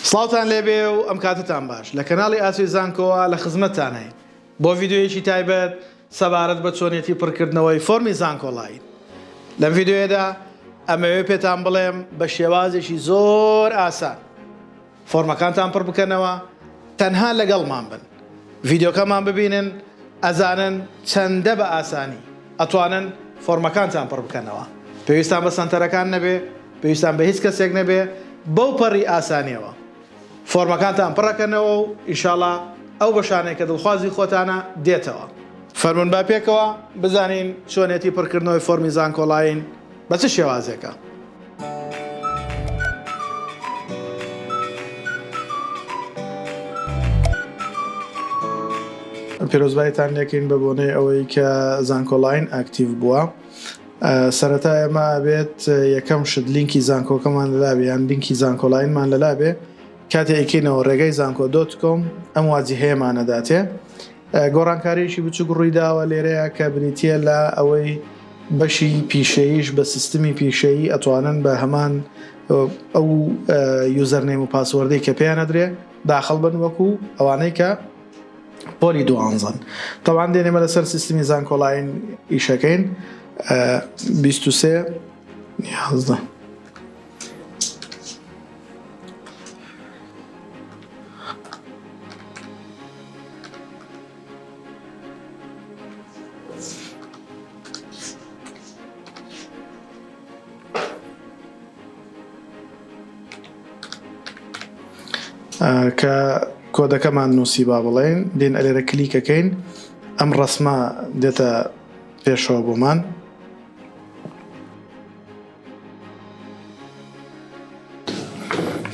سڵاوتان لێبێ و ئەم کاتەتان باش. لە کەناڵی ئاسۆی زانکۆوە لە خزمەتتانین بۆ ڤیدیۆیەکی تایبەت سەبارەت بە چۆنیەتی پڕکردنەوەی فۆرمی زانکۆڵاین. لەم ڤیدیۆیەدا ئەمەوێ پێتان بڵێم بە شێوازێکی زۆر ئاسان فۆرمەکانتان پڕ بکەنەوە، تەنها لەگەڵمان بن ڤیدیۆکەمان ببینن ئەزانن چەندە بە ئاسانی ئەتوانن فۆرمەکانتان پڕ بکەنەوە پێویستان بە سەنتەرەکان نەبێ پێویستان بە هیچ کەسێک نەبێ بەو پەڕی ئاسانیەوە فۆرمەکانتان پڕەکەنەوە و ئیشاڵا ئەو بەشانەی کە دڵخوازی خۆتانە دێتەوە فەرمون با پێکەوە بزانین چۆنێتی پڕکردنەوەی فۆرمی زانکۆڵاین بە چ شێوازێکە پیرۆزبایتان لێکەین بە بۆنەی ئەوەی کە زانکۆلاین ئاکتیڤ بووە سەرەتا ئێمە بێت یەکەم شت لینکی زانکۆکەمان لەلابێ یان لینکی زانکۆلاینمان لەلابێ کاتێکینەوە ڕێگەی زانکۆ دۆت کۆم ئەم واجی هەیەمانەداتێ گۆڕانکارییەکی بچووک ڕوویداوە لێرەیا کە بریتییە لە ئەوەی بەشی پیشەییش بە سیستمی پیشەیی ئەتوانن بە هەمان ئەو یوزەرنەیم و پاسوەردەی کە پێیان ئەدرێ داخڵ بن وەکو ئەوانەی کە پۆلی دوانزەن تەوان دێنێمە لەسەر سیستمی زانکۆلاین ئیشەکەین 23 یازدە کە کۆدەکەمان نووسی با بڵێن دێن ئەلێرە کلیکەکەین ئەم ڕسمە دێتە پێشەوە بۆمان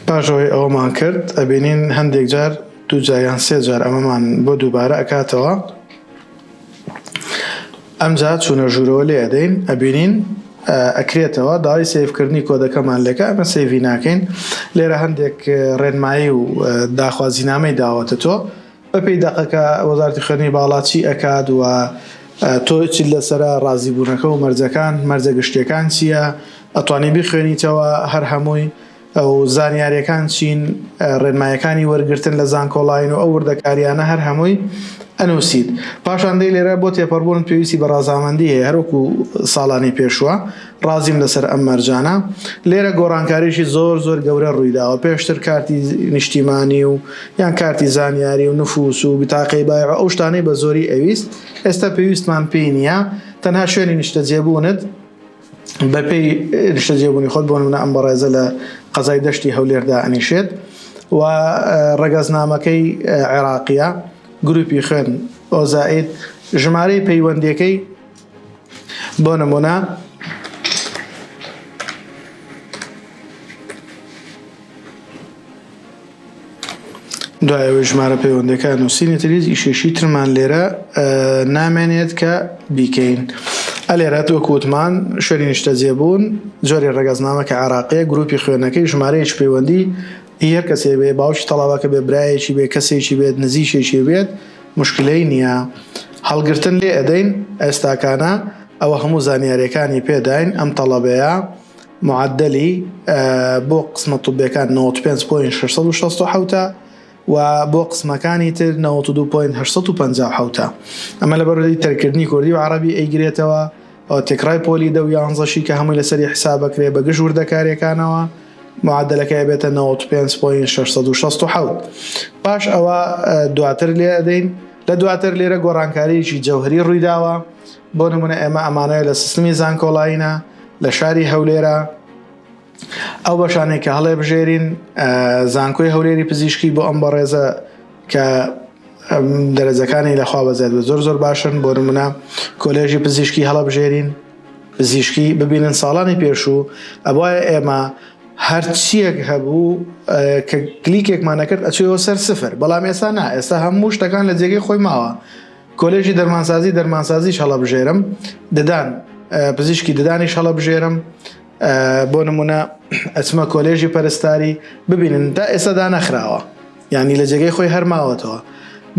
پاش ئەوەی ئەوەمان کرد ئەبینین هەندێک جار دوو جار یان سێ جار ئەمەمان بۆ دووبارە ئەکاتەوە ئەمجا چوونە ژوورەوە لێ ئەدەین ئەبینین ئەکرێتەوە داوای سیفکردنی کۆدەکەمان لەکە ئەمە سیڤی ناکەین لێرە هەندێک ڕێنمایی و داخوازینامەی داوەتە تۆ بەپێی دەقەکە وەزارەتی خوێندنی باڵا چی ئەکات و تۆ چیت لەسەرە ڕازیبوونەکە و مەرجەکان مەرجە گشتیەکان چییە ئەتوانی بیخوێنیتەوە هەر هەمووی ئەو زانیارەکان چین ڕێنمایەکانی وەرگتن لە زانکۆڵین و ئەو وردەکاریانە هەر هەمووی ئەنووسیت پاشان دەی لێرە بۆ تێپەڕبوون پێویستی بە ڕازامەندی هەیە هەروەکو ساڵانی پێشوە ڕازیم لەسەر ئەم مەرجانە. لێرە گۆڕانکاریی زۆر زۆر گەورە ڕوویداوە، پێشتر کارتی نیشتیمانی و یان کارتی زانیاری و نفوس و بتاقەی بایع و ئەو شتانەی بە زۆری ئەویست، ئێستا پێویستمان پێی نییە، تەنها شوێنی نیشتەجێبوونت بە پێی نیشتەجێبوونی خۆت، بۆ نموونە ئەم بەڕێزە لە قەزای دەشتی هەولێر دائەنیشێت و ڕەگەزنامەکەی عێراقییە، گرووپی خوێن، ئۆزائید، ژمارەی پەیوەندییەکەی. بۆ نموونە دوایەوەی ژمارە پەیوەندەکان و سینی تریز ئیشێشی ترمان لێرە نامێنێت کە بیکەین ئەلێرە تۆکوتمان شوێنی نیشتە جێبوون جۆری ڕگەزنامە کە عراقی گروپی خوێنەکەی ژمارەیەش پەیوەندی هەر کەسێ بێ باوکی تەڵاوەکە بێ برایەکی بێ کەسێکی بێت نزیشێکی بێت موشکلەی نیە هەڵگرتن لێ ئەدەین ئێستاکانا ئەوە هەموو زانیاریەکانی پێ داین ئەم تەڵەبەیە معەدەلی بۆ قسمە طوبیەکان نەوەد و پێنج پۆین شەش سەد و شەست و حەوتە و بۆ قسمەکانی تر نەوەد و دوو پۆین هەشت سەد و پەنجا و حەوتە ئەمە لە بەرەی تەرکردنی کوردی و عەڕەبی ئەیگرێتەوە ئەو تێکڕای پۆلی دە و یانزەشی کە هەمووی لەسەری حسابەکرێ بە گژ وردەکاریەکانەوە معەدەلەکەی ئەبێتە نەوەد و پێنج پۆینت شەش سەد و شەست و حەوت پاش ئەوە دواتر لێ ئەدەین لە دواتر لێرە گۆڕانکاریی جەوهری ڕوویداوە بۆ نمونە ئێمە ئەمانەیە لە سیستمی زانکۆڵینە لە شاری هەولێرە ئەو بەشانێک کە هەڵێ بژێرین زانکۆی هەولێری پزیشکی بۆ ئەم بەڕێزە کە دەرەجەکانی لە خوا بەزیاد بێت زۆر زۆر باشن بۆ نمونە کۆلێژی پزیشکی هەڵەبژێرین پزیشکی ببینن ساڵانی پێشوو ئەبواە ئێمە هەرچیەک هەبوو کە کلیکێکمانەکرد ئەچێەوە سەر سفر بەڵام ئێستا نا ئێستا هەموو شتەکان لە جێگەی خۆی ماوە کۆلێژی دەرمانسازی دەرمانسازیش هەڵەبژێرم ددان پزیشکی ددانیش هەڵەبژێرم بۆ نمونە ئەچمە کۆلێژی پەرستاری ببینن تا ئێستا دا نەخراوە یانی لە جێگەی خۆی هەر ماوەتەوە.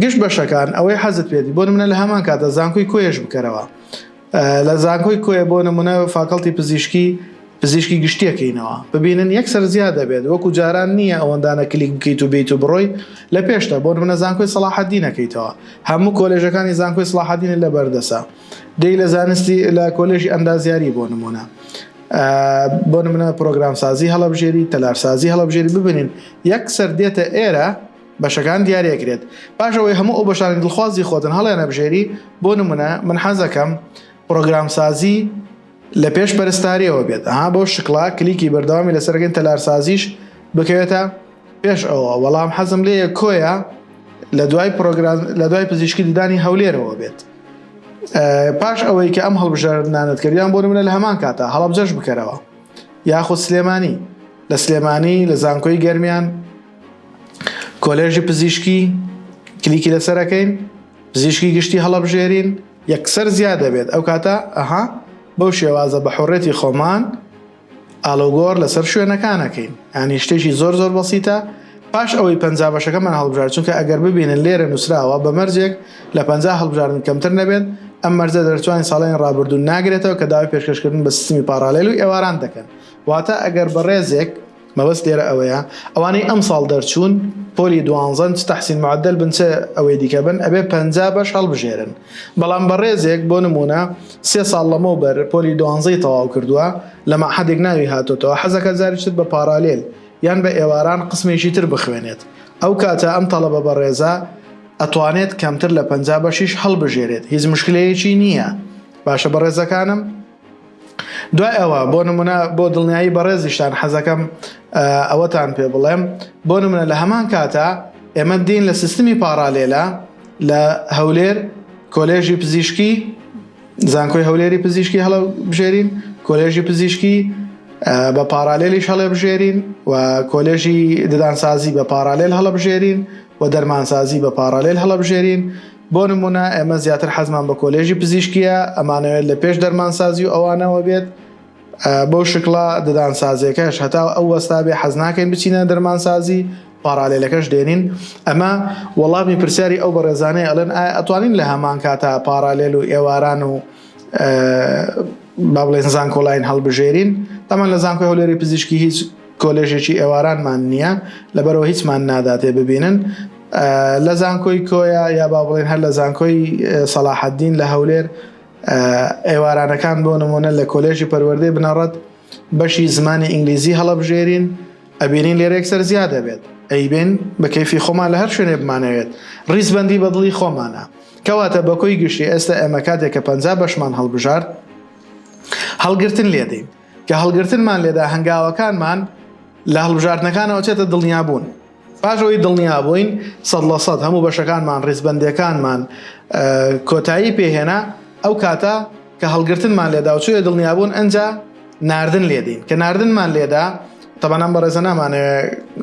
گشت بەشەکان ئەوەی حەزت پێبی بۆ نمونە لە هەمان کاتدا زانکۆی کۆیەش بکەرەوە لە زانکۆی کۆیە بۆ نمونە فاکەڵتی پزیشکی پزیشکی گشتیەکەینەوە ببینن یەکسەر زیاد دەبێت وەکو جاران نییە ئەوەندانە کلیک بکەیت و بیت و بڕۆی لە پێشتە بۆ نمونە زانکۆی سەڵاحەدینەکەیتەوە هەموو کۆلێژەکانی زانکۆی سەڵاحەدینت لە بەردەسە دێی لە زانستی لە کۆلێژی ئەندازیاری بۆ نمونە بۆ نمونە پرۆگرامسازی هەڵبژێری تەلارسازی هەڵبژێری ببنین یەک سەر دێتە ئێرە بەشەکان دیارەکرێت پاشەوەی هەموو ئەو بەشانی دڵخوازی خۆتن هەڵێنە بژێری بۆ نمونە من حەزەکەم پرۆگرامسازی لە پێش پەرستاریەوە بێت ها بۆ شکڵا کلیکی بەردەوامی لەسەرگەن تەلارسازیش بکەوێتە پێش ئەوە وەڵام حەزم لێە کۆیە لە دوای پرۆگرام لە دوای پزیشکی ددانی هەولێرەوە بێت. پاش ئەوەی کە ئەم هەڵبژاردنانەت کردیان بۆ نمونە لە هەمان کاتا هەڵەبجەش بکەرەوە یاخود سلێمانی لە سلێمانی لە زانکۆی گەرمیان کۆلێژی پزیشکی کلیکی لەسەرەکەین پزیشکی گشتی هەڵەبژێرین یەکسەر زیاد دەبێت ئەو کاتە ئەها بەو شێوازە بە حڕێتی خۆمان ئاڵۆگۆڕ لەسەر شوێنەکانەکەین یانی شتێکی زۆر زۆر بەسیتە پاش ئەوەی پەنجا بەشەکەمان هەڵبژارد چونکە ئەگەر ببینن لێرە نووسراوە بە مەرجێک لە پەنجا هەڵبژاردن کەمتر نەبێت ئەم مەرجە دەرچووانی ساڵانی ڕابردوو ناگرێتەوە کە داوای پێشکەشکردن بە سیستمی پاڕالێل و ئێواران دەکەن واتە ئەگەر بەڕێزێک مەبەست لێرە ئەوەیە ئەوانەی ئەمساڵ دەرچوون پۆلی دوانزەن چ تەحسین معەدەل بن چ ئەوەی دیکە بن ئەبێ پەنجا بەش هەڵبژێرن بەڵام بەڕێزێک بۆ نموونە سێ ساڵ لەمەوبەر پۆلی دوانزەی تەواو کردووە لە مەعهەدێک ناوی هاتۆتەوە حەزەکە جاری تر بە پارالێل یان بە ئێواران قسمێکی تر بخوێنێت ئەو کاتە ئەم تەڵەبە بەڕێزە ئەتوانێت کەمتر لە پەنجا بەشیش هەڵبژێرێت هیچ مشکلەیەکی نییە باشە بەڕێزەکانم دوای ئەوە بۆ نمونە بۆ دڵنیایی بەڕێزیشتان حەزەکەم ئەوەتان پێ بڵێم بۆ نمونە لە هەمان کاتا ئێمە دین لە سیستمی پاڕالێلا لە هەولێر کۆلێژی پزیشکی زانکۆی هەولێری پزیشکی هەڵە بژێرین کۆلێژی پزیشکی بە پارالێلیش هەڵێ بژێرین و کۆلێژی ددانسازی بە پارالێل هەڵە بژێرین و دەرمانسازی بە پارالێل هەڵە بژێرین بۆ نموونە ئێمە زیاتر حەزمان بە کۆلێژی پزیشکیە ئەمانەوێت لە پێش دەرمانسازی و ئەوانەوە بێت بەو شکڵا ددانسازیەکەش هەتا ئەو وەستا بێ حەز ناکەین بچینە دەرمانسازی پارالێلەکەش دێنین ئەمە وەڵامی پرسیاری ئەو بەڕێزانەی ئەلەن ئایا ئەتوانین لە هەمان کاتا پارالێل و ئێواران و با بڵێن زانکۆلاین هەڵبژێرین ئەمان لە زانکۆی هەولێری پزیشکی هیچ کۆلێژێکی ئێوارانمان نییە لەبەرەوە هیچمان ناداتێ ببینن لە زانکۆی کۆیە یا با بڵێن هەر لە زانکۆی سەلاحەدین لە هەولێر ئێوارانەکان بۆ نمونە لە کۆلێژی پەروەردەی بنەڕەت بەشی زمانی ئینگلیزی هەڵەبژێرین ئەبینین لێرێک سەر زیاد دەبێت ئەیبێن بە کەفی خۆمان لە هەر شوێنێ بمانەوێت ڕیزبندی بەدڵی خۆمانە کەواتە بەکۆی گشتی ئێستا ئێمە کاتێک کە پ بەشمان هەڵبژارد هەڵگرتن لێدەین کە هەڵگرتنمان لێدا هەنگاوەکانمان لە هەڵبژاردنەکانەوە چێتە دڵنیابوون پاش ئەوەی دڵنیا بووین سەد لە سەد هەموو بەشەکانمان ڕیزبەندیەکانمان کۆتایی پێهێنا ئەو کاتە کە هەڵگرتنمان لێدا و چێ دڵنیا بوون ئەجا ناردن لێدین کە ناردنمان لێدا تەبەنام بەڕێزە نامانەوێ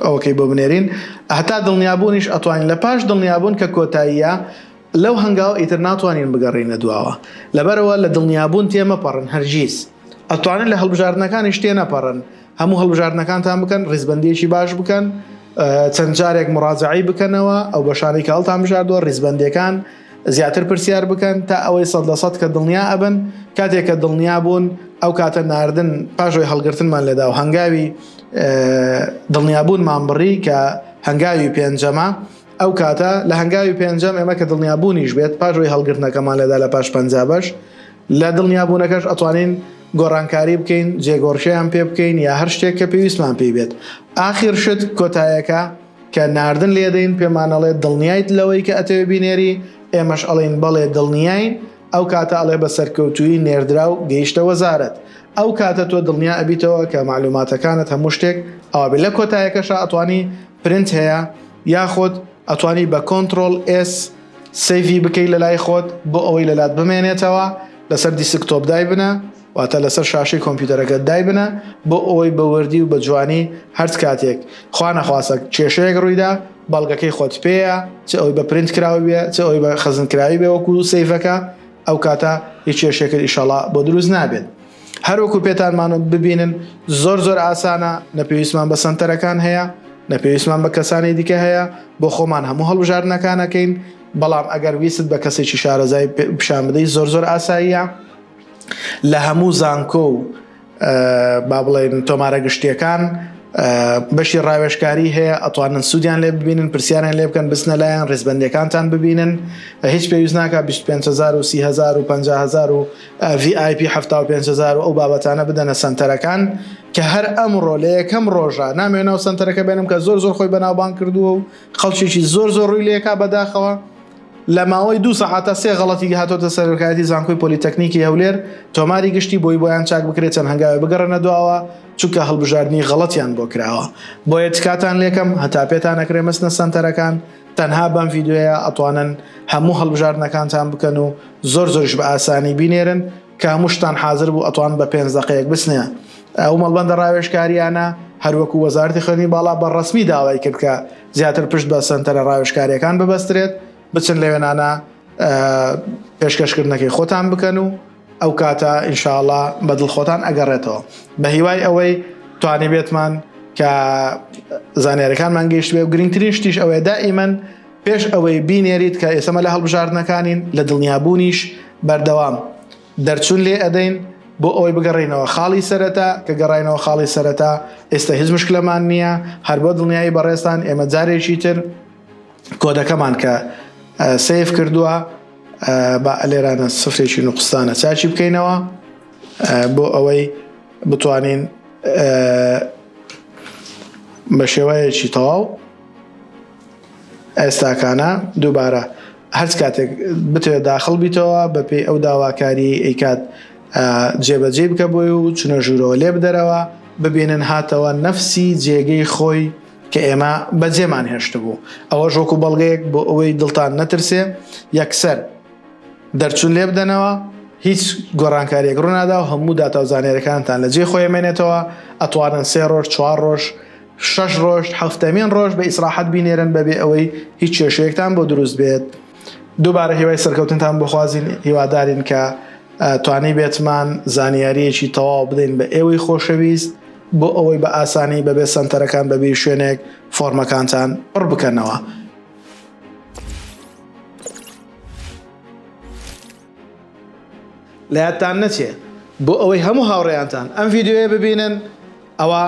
ئەوکەی بۆ بنێرین هەتا دڵنیابوونیش ئەتوانین لە پاش دڵنیابوون کە کۆتاییە لەو هەنگاو ئیتر ناتوانین بگەڕینە دواوە لەبەرەوە لە دڵنیابوون تێمەپەڕن هەرگیز ئەتوانن لە هەڵبژاردنەکانی شتێ نەپەڕن هەموو هەڵبژاردنەکانتان بکەن ڕیزبەندیەکی باش بکەن چەند جارێک مڕاجعی بکەنەوە ئەو بەشانی کە هەڵتان بژاردووە ڕیزبەندەکان زیاتر پرسیار بکەن تا ئەوەی سەد لە سەد کە دڵنیا ئەبن کاتێک کە دڵنیا بوون ئەو کاتە ناردن پاشۆی هەڵگرتنمان لەدا و هەنگاوی دڵنیابوونمان بڕی کە هەنگاوی پێنجەمە ئەو کاتە لە هەنگاوی پێنجەم ئێمە کە دڵنیابوونیش بێت پاشۆی هەڵگرتنەکەمان لەدا لە پاش پەنج بەش لە دڵنیابوونەکەش ئەتوانین گۆڕانکاری بکەین، جێگۆڕکێیان پێ بکەین یا هەر شتێک کە پێویستمان پێی بێت. ئاخیر شت کۆتایەکە کە ناردن لێدەین پێمان ئەڵێت دڵنیایت لەوەی کە ئەتەوێ بینێری؟ ئێمەش ئەڵێین بەڵێ دڵنیاین، ئەو کاتە ئەڵێ بە سەرکەوتوویی نێردراو گەیشتە وەزارەت. ئەو کاتە تۆ دڵنیا ئەبیتەوە کە مەعلوماتەکانت هەموو شتێک ئەوا بێت. لە کۆتایەکەشا ئەتوانی پرنت هەیە یاخود ئەتوانی بە Ctrl S، سەیڤی بکەی لەلای خۆت بۆ ئەوەی لەلات بمێنێتەوە لەسەر دیسک تۆپ دایبنە واتە لەسەر شاشەی کۆمپیوتەرەکەت دایبنە بۆ ئەوەی بە وردی و بە جوانی هەرچ کاتێک خوا نەخواستە کێشەیەک ڕوویدا بەڵگەکەی خۆت پێیە چ ئەوی بە پرینت کراوی بێ چ ئەوی بە خەزنکراوی بێ وەکو سەیڤەکە ئەو کاتە هیچ کێشەکەت ئیشەڵا بۆ دروست نابێت هەروەکو پێتانمان وت ببینن زۆر زۆر ئاسانە، نە پێویستمان بە سەنتەرەکان هەیە، نە پێویستمان بە کەسانی دیکە هەیە، بۆ خۆمان هەموو هەڵبژاردنەکان ئەکەین، بەڵام ئەگەر ویستت بە کەسێکی شارەزای پیشان بدەی زۆر زۆر ئاساییە لە هەموو زانکۆ و با بڵێن تۆمارە گشتیەکان بەشی ڕاوێشکاری هەیە ئەتوانن سوودیان لێ ببینن پرسیاریان لێ بکەن بچنە لایەن ڕێزبەندەکانتان ببینن هیچ پێویست ناکە 25 هزار و 30 هزار و 50 هزار و VIP حەفتا و پێنج هەزار و ئەو بابەتانە بدەنە سەنتەرەکان کە هەر ئەمڕۆ لە یەکەم ڕۆژە نامەوێت ناو سەنتەرەکە بێنم کە زۆر زۆر خۆی بەناوبانگ کردووە و خەڵکیی زۆر زۆر ڕووی لێکا بەداخەوە لە ماوەی دوو سەعاتە سێ غەڵەتی هاتۆتە سەرۆکایەتی زانکۆی پۆلیتەکنیکی هەولێر تۆماری گشتی بۆی بۆیان چاک بکرێت چەند هەنگاوێ بگەڕێنە دواوە چونکە هەڵبژاردنی غەڵەتیان بۆ کراوە بۆیە تکاتان لێکەم هەتا پێتان ئەکرێ مەچنە سەنتەرەکان تەنها بەم ڤیدیۆیە ئەتوانن هەموو هەڵبژاردنەکانتان بکەن و زۆر زۆریش بە ئاسانی بینێرن کە هەموو شتان حازر بوو ئەتوان بە پێنج دەقەیەک بچنە ئەو مەڵبەندە ڕاوێشکاریانە هەروەکو وەزارتی خوێنی باڵا بە ڕسمی داوای کرد کە زیاتر پشت بە سنتەرە ڕاوێشکاریەکان ببەسترێت بچن لە وێنانە پێشکەشکردنەکەی خۆتان بکەن و ئەو کاتە انشااللە بە دڵ خۆتان ئەگەڕێتەوە بە هیوای ئەوەی توانیبێتمان کە زانیاریەکانمان گەیشتبێ و گرنگترین شتیش ئەوەیە دائیمەن پێش ئەوەی بینێریت کە ئێسەمە لە هەڵبژاردنەکانین لە دڵنیابوونیش بەردەوام دەرچون لێ ئەدەین بۆ ئەوەی بگەڕینەوە خاڵی سەرەتا کە گەڕینەوە خاڵی سەرەتا ئێستا هیچ مشکلەمان نییە هەر بۆ دڵنیایی بەڕێزتان ئێمە جارێکی تر کۆدەکەمان کە سیف کردووە با ئەلێرانە سفرێکی نوقستانە چاچی بکەینەوە بۆ ئەوەی بتوانین بە شێوەیەکی تەواو ئێستاکانە دووبارە هەرچ کاتێک بتوێت داخڵ بیتەوە بە پێی ئەو داواکاری ئەیکات جێبەجێ بکە بۆی و چونە ژوورەوە لێ بدەرەوە ببینن هاتەوە نەفسی جێگەی خۆی کە ئێمە بەجێمان هێشتبوو، ئەوەش وەکو بەڵگەیەک بۆ ئەوەی دڵتان نەترسێ یەکسەر دەرچون لێبدەنەوە، هیچ گۆڕانکاریەک ڕونادا و هەموو داتاو زانیاریەکانتان لە جێی خۆی ئەمێنێتەوە، ئەتوانن سێ ڕۆژ، چوار ڕۆژ، شەش ڕۆژ، هەفتەمین ڕۆژ بە ئیسراحەت بینێرن بەبێ ئەوەی هیچ کێشەیەکتان بۆ دروست بێت، دووبارە هیوای سەرکەوتنتان بۆ خوازین، هیوادارین کە توانیبێتمان زانیاریەکی تەواو بدەین بە ئێوەی خۆشەویست. بۆ ئەوەی بە ئاسانی بەبێ سەنتەرەکان بەبێ شوێنێک فۆرمەکانتان پڕ بکەنەوە. لە یادتان نەچێ بۆ ئەوەی هەموو هاوڕێیانتان ئەم ڤیددیوە ببینن ئەوە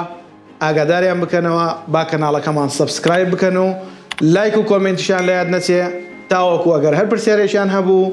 ئاگاداریان بکەنەوە با کەناڵەکەمان سبسکرایب بکەن و لایک و کۆمنتیشان لە یاد نەچێ تاوەکو ئەگەر هەر پرسیارێکیان هەبوو